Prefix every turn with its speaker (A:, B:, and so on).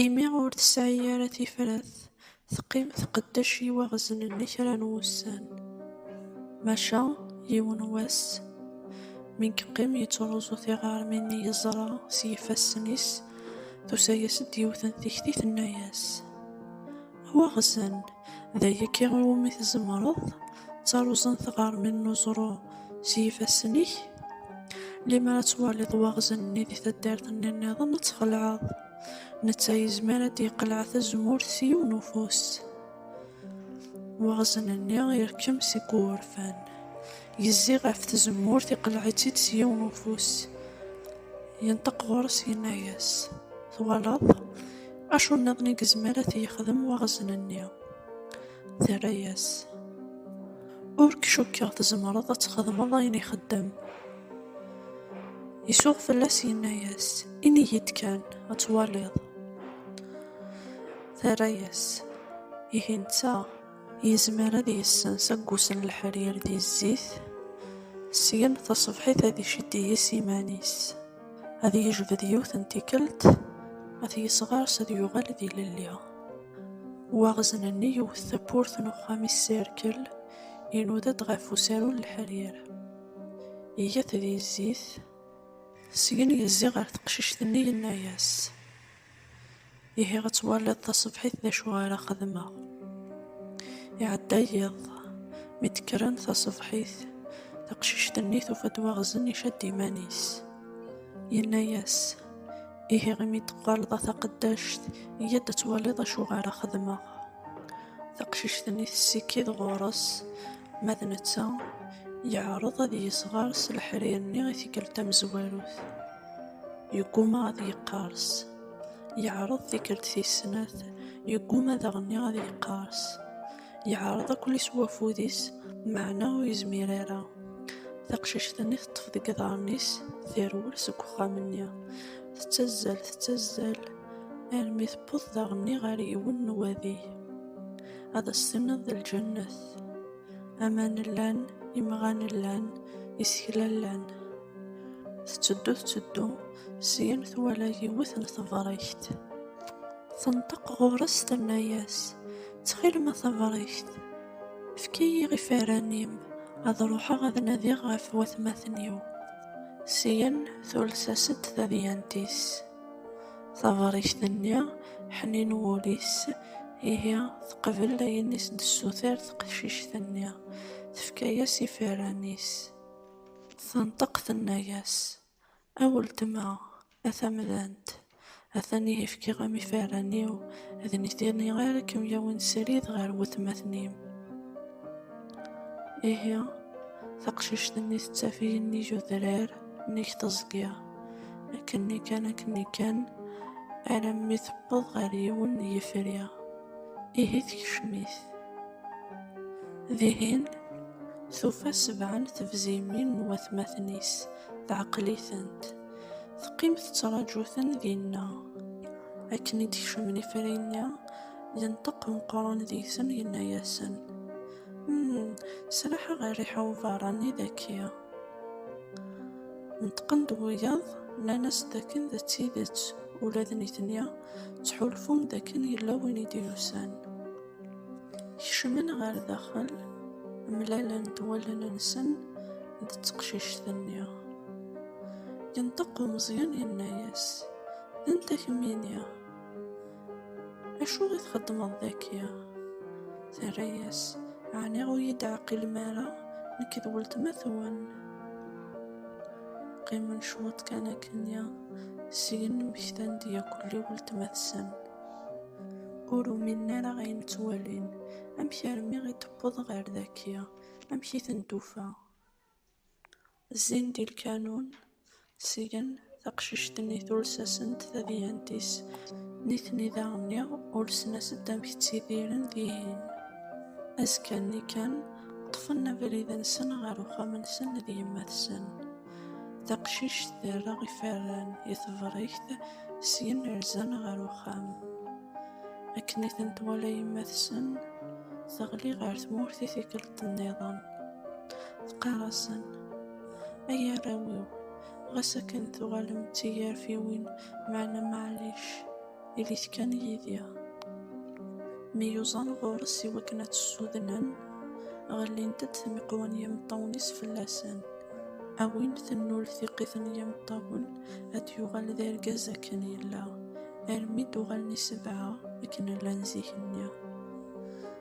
A: Imi ur tesɛi ara tifrat, teqqim tqeddec iwaɣeznen-nni kra n wussan. Maca yiwen n wass, mi yeqqim yettruẓu tiɣermin i yeẓra s yifassen-is, tusa-as-d yiwet n tikti tenna-as. Waɣzen, d ayagi iwumi tzemreḍ, ttaruẓen tɣermin n uẓru s yifassen-ik, limer ad twaliḍ waɣzen-nni di taddart-nni nniḍen ad txelɛeḍ, netta yezmer ad d-yeqleɛ tazemmurt s yiwen ufus. Waɣzen-nni irkem seg wurfan, Yezzi ɣef tzemmurt, iqelleɛ-itt-id s yiwen ufus. Yenṭeq ɣur-s, yenna-yas, Twalaḍ? Acu nniḍen i yezmer ad t-yexdem waɣzen-nni? Terra-yas, Ur k-cukkeɣ tzemreḍ ad txedmeḍ ayen ixeddem. Isuɣ fell-as, yenna-yas, Ini-yi-d kan, ad twaliḍ. Terra-yas, Ihi netta. Yezmer ad yessens aggus n leḥrir di zzit, syen taṣebḥit ad iciddi yes iman-is, ad yejbed yiwet n tikelt, ad t-yesɣers ad yuɣal ad ilelli. Waɣzen-nni yewwet tawwurt n uxxam-is s irkel, inuda-d ɣef usaru n leḥrir. Iga-t di zzit, syen yezzi ɣer teqcict-nni yenna-yas. Ihi ad twaliḍ tasebḥit d acu ara xedmeɣ. Iɛedda yiḍ, mi d-kkren tasebḥit, taqcict-nni tufa-d waɣzen icad iman-is. Yenna-yas, Ihi imi d-tuɣaleḍ a taqeddact, yya-d ad twaliḍ acu ara xedmeɣ. Taqcict-nni tessikid ɣur-s, ma d netta, yeɛreḍ ad yesɣer s leḥrir-nni i tikkelt tamezwarut. Yegguma ad yeqqers. Yeɛreḍ tikkelt tis snat, yegguma daɣenni ad yeqqers. Yeɛreḍ ad ken-isew wafud-is, meɛna ur yezmir ara. Taqcict-nni teṭṭef deg iḍarren-is, terwel seg uxxam-nni. Tettazzal, tettazzal, armi tewweḍ daɣenni ɣer yiwen n wadi. Ad as-tiniḍ d lǧennet. Aman llan, imɣan llan, isekla llan. Tetteddu tetteddu, syin twala yiwet n tebrekt. Tenṭeq ɣur-s tenna-yas, ttxil ma tabrekt, efk-iyi ifaran-im ad ruḥeɣ ad nadiɣ ɣef watmaten-iw. Syin tules-as-d tadyant-is. Taberrict-nni, ḥnin wul-is, ihi teqbel ayen i s-d-tessuter teqcict-nni, tefka-yas ifirran-is. Tenṭeq tenna-yas, A weltma, a tamdant, atan ihi fkiɣ-am ifirran-iw, d nitni ara kem-yawin srid ɣer watmaten-im. Ihi taqcict-nni tettaf-iyi nnig udrar, nnig teẓgi. akken-nni kan akken-nni kan alammi tewweḍ ɣer yiwen n yifri ihi tekcem-it dihin tufa sebɛa n tebzimin n watmaten-is teɛqel-itent teqqim tettraǧu-ten dinna akken i d-kecmen ifri-nni yenṭeq meqqran deg-sen yenna-yasen hmm, sraḥeɣ rriḥa uberrani daki Neṭqen-d wiyaḍ, nnan-as d akken d tidet, ula d nitni ttḥulfun d akken yella win i d-yusan. Kecmen ɣer daxel, mlalen-d wallen-nsen d teqcict-nni. Yenṭeq umeẓyan yenna-as, D anta kemmini? Acu i txeddmeḍ daki? Terra-yas, ɛni ur yi-d-ɛqilem ara, nekk d weltma-twen? Qqimen cwiṭ kan akken-ya, syin mmektan-d yakul i weltma-tsen. Ur uminen ara ayen ttwalin, amek armi i d-tewweḍ ɣer daki, amek i ten-tufa? Zzin di lkanun, sgen taqcict-nni tulsasen d tadyant-is, nitni daɣ-nni ulsen-as-d amek ttidiren dihin. Azekka-nni kan, ṭṭfen abrid-nsen ɣer uxxam-nsen d yemma-tsen. Taqcict terra iferran i tebrikt, syen rzan ɣer uxxam. Akken i ten-twala yemma-tsen, teɣli ɣer tmurt i tikkelt-nniḍen. Qqar-asen, ay arraw-iw, ɣas akken tuɣalem d tigarfiwin, meɛna maɛlic, ilit kan yid-i. Mi yuẓan ɣur-s i wakken ad tt-ssudnen, ɣellint-d tmiqwa n yimeṭṭawen-is fell-asen. A win tennul tiqit n yimeṭṭawen, ad d-yuɣal d argaz akken yella, armi d-uɣalen i sebɛa akken llan zik-nni.